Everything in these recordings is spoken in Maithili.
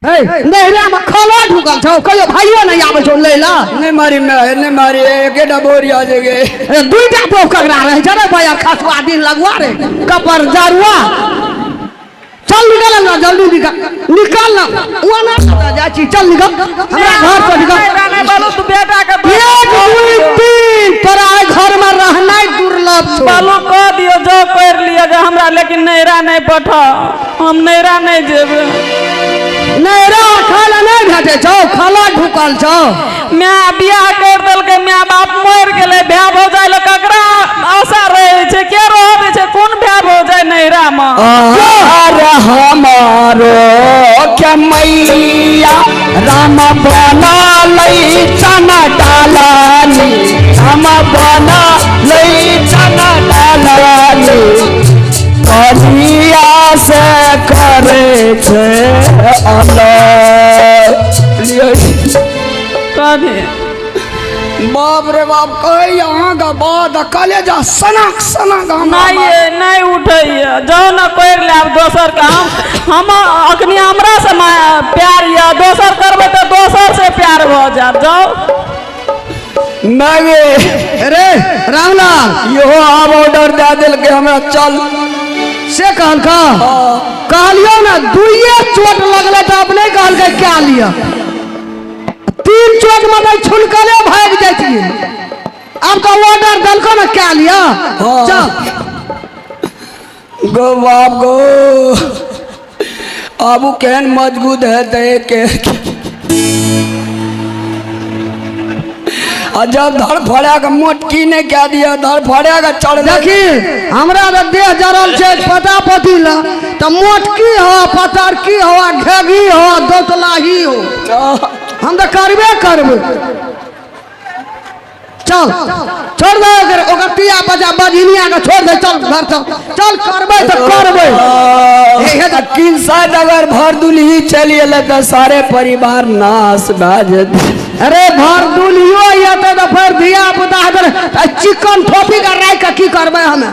हे नहरा में खाना ढुकल छौ कहियो भाइयो नहीं आबै छौ लै ला नहीं मारी मैं नहीं मारी एकेटा बोरी आ जेगे ए, दुईटा पोख ककरा रहे छै रे भैया खसुआ दिन लगवा रे कपर जरुआ चल निकल ना जल्दी निकल निकल ना वो ना पता जा छी चल निकल हमरा घर पर निकल राना बालू तू बेटा के एक दुई तीन तोरा एहि घर में रहनाइ दुर्लभ छौ बालू कह दियो जो कर लियो जे हमरा लेकिन नैरा नहीं पठा हम नैरा नहीं जेबे नहीं रे खाय ला नहीं भेटे छौ खाला ढुकल छौ मैं बियाह कर दल के मैं बाप मर गेले भै भौ जाय ल ककरा आशा रहे छे के रह दे छे कोन भै भौ जाय नैरा म आर हमारो के मैया राम बना लई चना डालानी राम बना लई चना डालानी कनिया से करे छे अलग लियो जी। कहे बाप रे बाप कहे यहाँ का बाद कले जा सनक सनक हम नहीं ये नहीं उठे ये जाओ ना कोई ले आप दोसर का हम हम अखनी हमरा से माया- प्यार या दोसर करबे तो दोसर से प्यार हो जाए जाओ मांगे अरे रामलाल इहो आब ऑर्डर दे दिल के हमरा चल से कहल का कहलियो ना दुइये चोट लगले तो अब नहीं कहल के क्या लिया तीन चोट में तो छुलकले भाग जाइए अब तो ऑर्डर दलको ना क्या लिया हाँ। चल गो बाप गो आबू केहन मजबूत हेतै के आ जब धड़ फड़ा के मोटकी नहि कए दिअ धड़ फड़ा के चढ़ देखी हमरा तऽ देह जरल छै पता पति लऽ तऽ मोटकी हो पतरकी हो आ घेगी हो आ दोतलाही हो हम तऽ करबे करबै चल छोड़ दे ओकर ओकर पिया बजा बजनिया के छोड़ दे चल घर चल चल करबे तो करबे इहे तो किसान अगर भर दुलही चली अल तो सारे परिवार नाश भा जते अरे भर दुलियो येते तो फिर धिया पुता हदर चिकन ठोपी का राय का की करबे हमें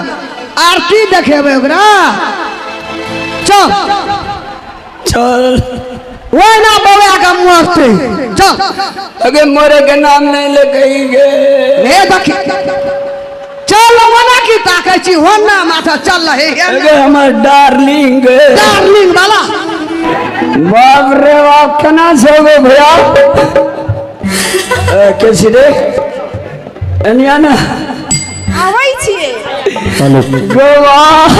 आरती देखेबे ओकरा चल चल वो ना बवे का मुआफते चल अगे मोरे के नाम नहीं ले कही गे हे देखी चल मना की ताके छी हो ना माथा चल रहे है अगे हमर डार्लिंग डार्लिंग वाला बाप रे बाप कना से गो भैया अ, कैसी रे अनिया ना आबै छिए हेलो गो वाह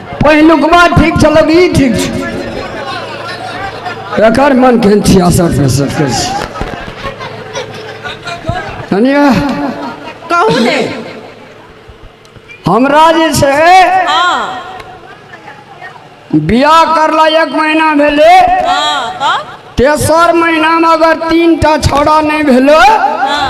पहिलुकवा ठीक छलक ई ठीक छै एकर मन केहन छियासठ पैंसठ के छै कनिया कहू ने हमरा जे छै हाँ बियाह करला एक महीना भेलै हाँ तब तेसर महीनामे अगर तीन टा छौड़ा नहि भेलै हाँ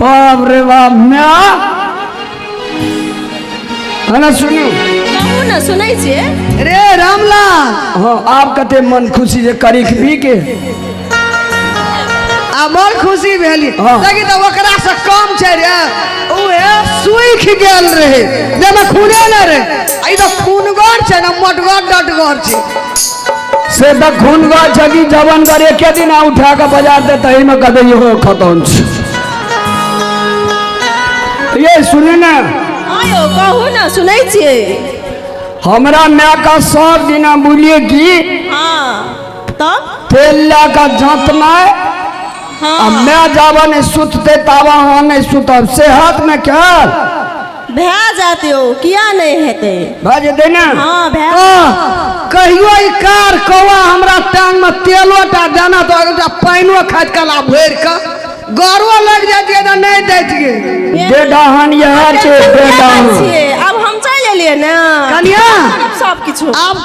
बाप रे बाप म्या हला सुनू कहू ने सुनै छियै रे रामलाल हाँ आप कते मन खुशी जे करी खबी के आ मन खुशी भेली हाँ। लेकिन तऽ ओकरा से कम छै रे उहे सुख गेल रहे जेमे खूने न रहे आ ई तऽ खूनगर छै ने मोटगर डटगर छै से तऽ खून गऽ छै कि जवन गर एके दिन आ उठा कऽ बाजार दे तही में कदे इहो खतम छै ये सुने ना हाँ यो कहू ना सुनै छियै हमरा माय का सब दिना बोलिए कि हाँ तब तेल ला का जात में आ हाँ मैं जावा नहीं सुतते तावा हाँ नहीं सुतब सेहत में क्या भए जात यौ किया नहि हेतै भए जेतै ने हँ भए कहियो ई कार कौआ हमरा टांग में तेलो टा दाना दऽ एकटा पानिओ खाइत कला भरि कऽ गौरव लागि जैतियै तऽ नहि दैतियै बेडहन इएह छै बेडहन आब हम चलि एलियै ने कनिया सब किछु आब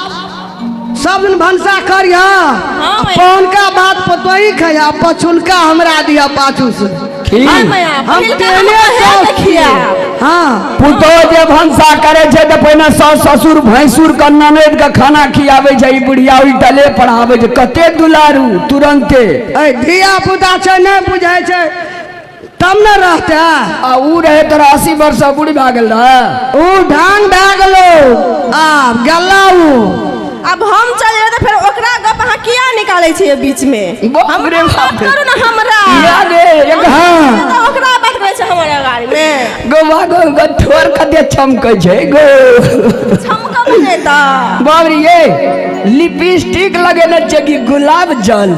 सब दिन भनसा करिह हाँ, आ भैया। पहुनका बात पर तोही खैया पछुनका हमरा दिया पाछू से ठीक हाँ, भैया, हम पहिलका तेने हमरा है सौस देखिया। छियै। हाँ पुतोह जे भनसा करे छै तऽ पहिने सास ससुर भैंसुर के ननद के खाना खियाबै छै ई बुढ़िया उल्टले पढ़ाबै छै कते दुलारू तुरंते ऐ धिया पुता छै नहि बुझै छै तब न रहते आ ऊ रहे तोरा अस्सी वर्ष से बूढ़ी भए गेल रहे ऊ ढांग भए गेलो आब गेला ऊ अब हम चल जेबै तऽ फेर ओकरा गप अहाँ किया निकालै छियै बीच मे बाप हम रे बाप। बात करू ने हमरा या रे एक हाँ तऽ ओकरा बात करै छै हमर अगाड़ी मे गोवा गो गो ठोर कते चमकै छै गो छमकब नहि तऽ बाबरी ये लिपस्टिक लगेने छै कि गुलाब जल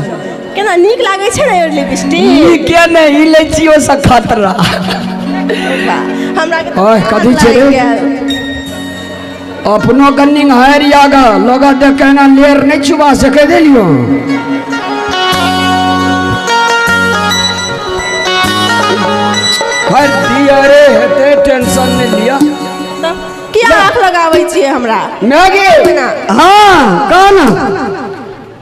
केना नीक लागै छै ने लिपस्टिक नीके नहि लै छियो से खतरा हमरा ओह कथी छै रे अपनो के निंगार याग लोग देखे ना लेर नहीं छुबा सके देलियो हर दिया रे हेते टेंशन नहीं लिया किया आँख लगाबै छियै हमरा मैगी हां कौन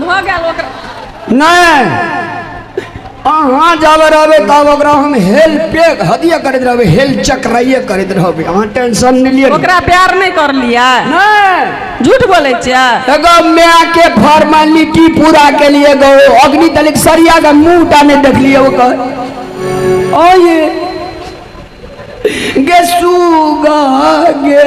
भऽ गेल ओकरा नहि अहाँ जाबे रहबै तब ओकरा हम हेल पे हदिया करैत रहबै हेल चक्राइए करैत रहबै अहाँ टेंशन नहि लिअ ओकरा प्यार नहि करलियै नहि झूठ बोलै छियै एगो माय के फॉर्मेलिटी पूरा के लिए गो अग्नि तलिक सरिया के मुंह टा नहीं देखलिए ओकर ओ ये गे सुगा गे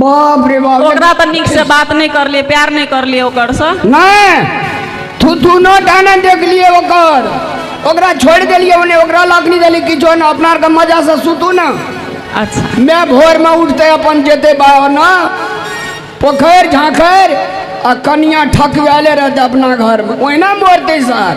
बाप रे बाप ओकरा तऽ नीकसँ बात नहि करलियै प्यार नहि करलियै ओकरसँ नहि तू दुनो डाना देखलिए ओकर ओकरा छोड़ देलिए ओने ओकरा लाखनी देली कि जो ना अपना आरके मजा से सुतू ना अच्छा मैं भोर में उठते अपन जेते बाहर ना पोखर झांखर आ कनिया ठकवाले रहते अपना घर में ओहिना मोरते सर